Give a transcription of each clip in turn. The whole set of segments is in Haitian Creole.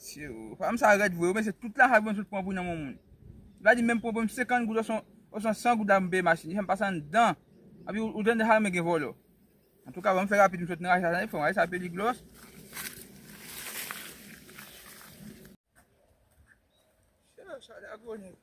Siw fanm sa red vre ou mesi tout lajan vre sot pran pou nan men moun. Li pa di menm pou mwen 50 goud oswa 100 goud la pou m peye machin. Li fèm pase anndan. Api ou tande sa men gen volo. An tou ka banm fè rapid m sot nan rache sa tande fon. Rache sa peli glos. Chè sa la goni.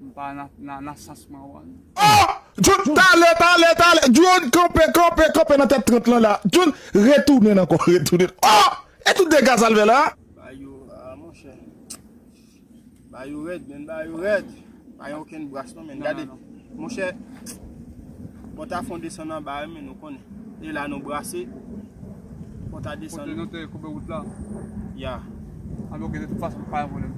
M pa nan nan sans Marwan. Oh! Jun, tale, tale, tale! Jun, kanpe, kanpe, kanpe nan tèt 30 lan la! Jun, retounen ankò, retounen! Oh! E tout dega sa l fè la? Bagay yo, ah monchè. Bagay yo rèd menn, bagay yo rèd! Pa gen okenn bras non menn, gade. Monchè, pòta fon desann anba wi menn, ou konnen. E la nou brase, pòta desann. Kote nou te koube wout la? Ya. Anbe ok de tout fason pa yon problem.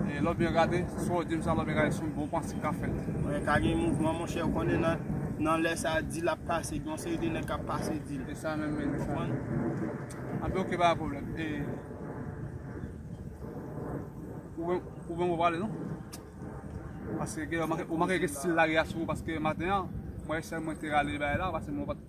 E lò byen gade, sa w di m sa lò byen gade son bon panse k ap fèt. Mwen ka gen mouvman monchè ou konnen nan nan lè sa dil ap pase gen yon seri de nèg k ap pase dil. E sa menm men. Konprann? Anbe ok pa yon problem. E ou menm ou menm ou pa pale non. Paske ou manke gen stil lari a sou ou paske maten an mwen sèl mwen te rale bagay la paske mwen pat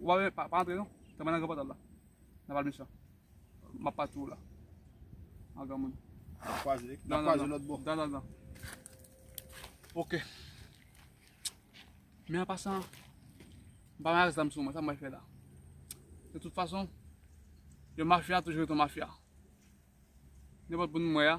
Ou pa pa antre non. Tanmen nan gran pòtal la. Nan val mechan. Map pati ou la. An gran moun. Nan kwaze. Nan kwaze lòt bò. Dan dan dan. Ok. Men an pasan. M pa mè zam sou mwen. Sa mwen fè la. De tout fason. Yon mafya toujou yon mafya. Nenpòt moun mwen a.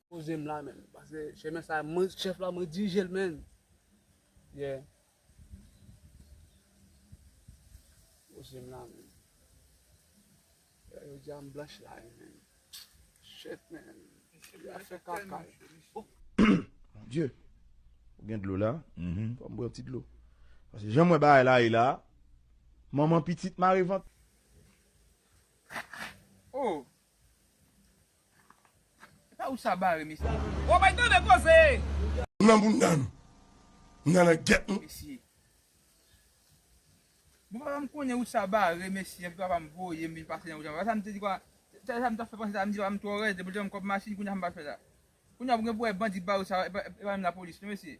Poze m la menm. Pase chemen sa mwen chef la mwen dirije l menm. Yeah. Poze m la menm. Yo di am blanch la menm. Shit menm. Ya fè kaka. Mon Dieu. Ou gen dlo la? Mhm. Fò m bwè yon ti dlo. Pase jan mwen bagay la ye la. Manman pitit mare vant. Oh. Epa ou sa bare mesye. Bon bay tande koze. M nan bounda nou. M nan nan get nou. Mesye. Bon papa m konnen ou sa bare mesye epi papa m voye m vin pase nan wout la. Sa m te di kwa. Sa m ta fè panse sa m di papa m twò rèz depi l te banm kòb machin kounya sa m pral fè la. Kounya pou gen pou wè bandi bare ou sa epa menm lapolis non mesye.